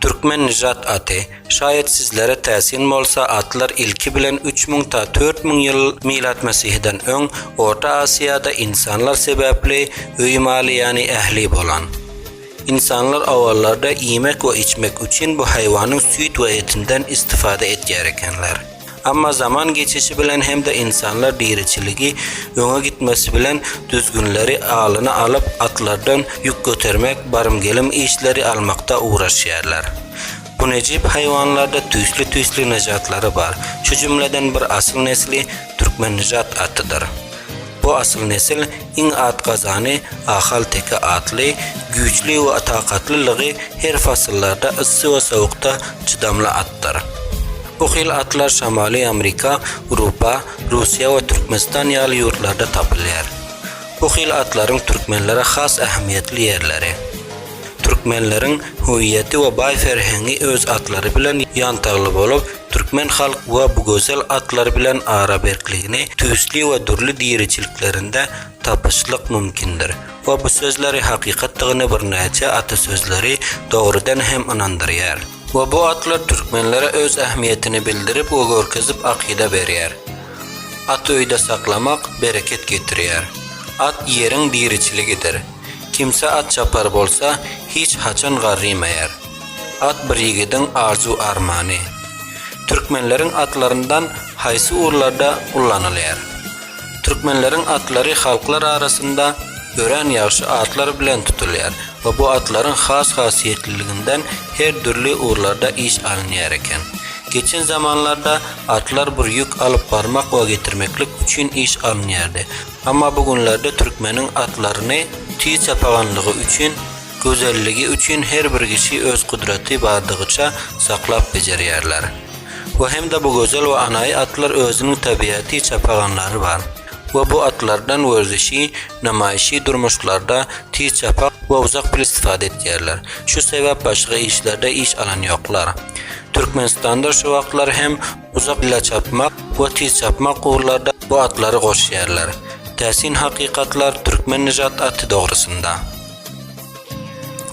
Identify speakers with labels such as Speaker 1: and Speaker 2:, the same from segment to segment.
Speaker 1: Türkmen nijat aty, şaýat sizlere täsin bolsa, atlar ilki bilen üç müň ta dört müň ýyl milatmesihden öň Orta Asiýada ynsanlar sebäpli öý maly ýany ähli bolan. Ynsanlar owallarda iýmek we içmek üçin bu haýwanyň süýt we etinden istifada etýär ekenler. Emma zaman geçişi bilen hem-de ynsanlar diriçiligi öňe gitmesi bilen düzgünleri alyna alyp, atlardan ýük götermek, barym-gelim işleri almakda ugraşýarlar. Bu nejep haýwanlarda tüýsli-tüýsli nyjatlary bar. Şu jümleden bir asyl nesli türkmen nyjat atydyr. Bu asyl nesil, Iň at gazany Ahal teke atly, güýçli we takatlylygy her fasyllarda yssy we sowukda çydamly atdyr. Bu hil atlar Şamaly Amrika, Urupa, Russiýa we Türkmenistan ýaly ýurtlarda tapylýar. Bu hil atlaryň türkmenlere has ähmiýetli ýerleri. Türkmenleriň hüwiýeti we baý ferhengi öz atlary bilen ýantagly bolup, Türkmen halk we bu gözel atlar bilen araberkligini tüýsli we dürli diriçiliklerinde tapyşlyk mümkindir we bu sözleri hakykatdygyny birnäçe atasözleri dogrudan hem ynandyrýar. We bu atlar türkmenlere öz ähmiýetini bildirip we görkezip akyda berýär. At öýde saklamak bereket getirýär. At ýeriň diriçiligidir. Kimse at çapar bolsa, hiç haçan garrymaýar. At bir ýigidiň arzuw-armany. Türkmenleriň atlaryndan haýsy ugurlarda ullanylýar? Türkmenleriň atlary halklar arasynda örän ýagşy atlar bilen tutulýar we bu atlaryň has hasiýetliliginden her dürli ugurlarda iş alynýar eken. Geçen zamanlarda atlar bir ýük alyp barmak we getirmeklik üçin iş alynýardy. Amma bu günlerde türkmeniň atlaryny tiz çapaganlygy üçin, Gözelligi üçin her bir kişi öz gudraty bardygyça saklap bejerýärler. We hem-de bu gözel we anaýy atlar özüniň tabiaty çapaganlary bar. We bu atlardan werzişi, namaýşy durmuşlarda tiz çapa we uzak bil istifade etýärler. Şu sebäp başga işlerde iş alan ýoklar. Türkmenistanda şu wagtlar hem uzak bila çapmak we tiz çapmak ugurlarda bu atlary goşýarlar. Täsin hakykatlar türkmen nijat aty dogrusynda.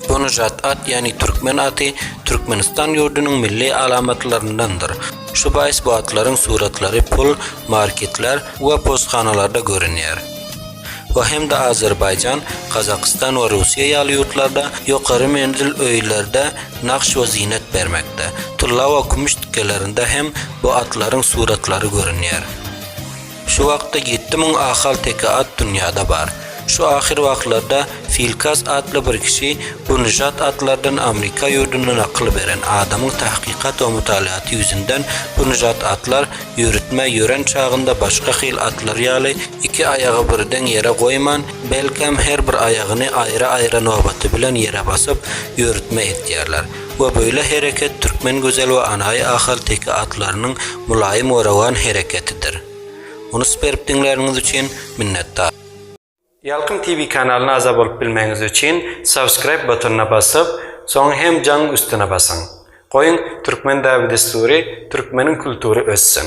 Speaker 1: Gonujat at, ýagny türkmen aty, Türkmenistan ýurdunyň milli alamatlaryndandyr. Şu baýys bu atlaryň suratlary pul, marketler we posthanalarda görünýär. Bu hem-de Azerbaýjan, Gazagystan we Russiýa ýaly ýurtlarda ýokary menzil öýlerde nagş we zynet bermekde. Tylla we kümüş tikgelerinde hem bu atlaryň suratlary görünýär. Şu wagtda ýetti müň ahalteke at dünýäde bar. Şu ahyr wagtlarda Filkas atly bir kişi bu nyžat atlardan Amrika ýurduna nakyl beren adamyň tahkykat we mutalaýaty ýüzünden bu nyžat atlar ýörütmä ýören çagynda başga hil atlar ýaly iki aýagy birden ýere goýman belkäm her bir aýagyny aýra-aýra nobaty bilen ýere basyp ýörütme etýärler. we beýle hereket Türkmen Gözel we Anaýy ahalteke atlarynyň mylaýym we rowan hereketidir. Unus berip diňläniňiz üçin minnetdar. Ýalkym TV kanalyna agza bolup bilmegiňiz üçin subscribe butonyna basyp, soň hem jaň üstüne basyň. Goýuň Türkmen däbi-dessury, Türkmeniň kultury össün!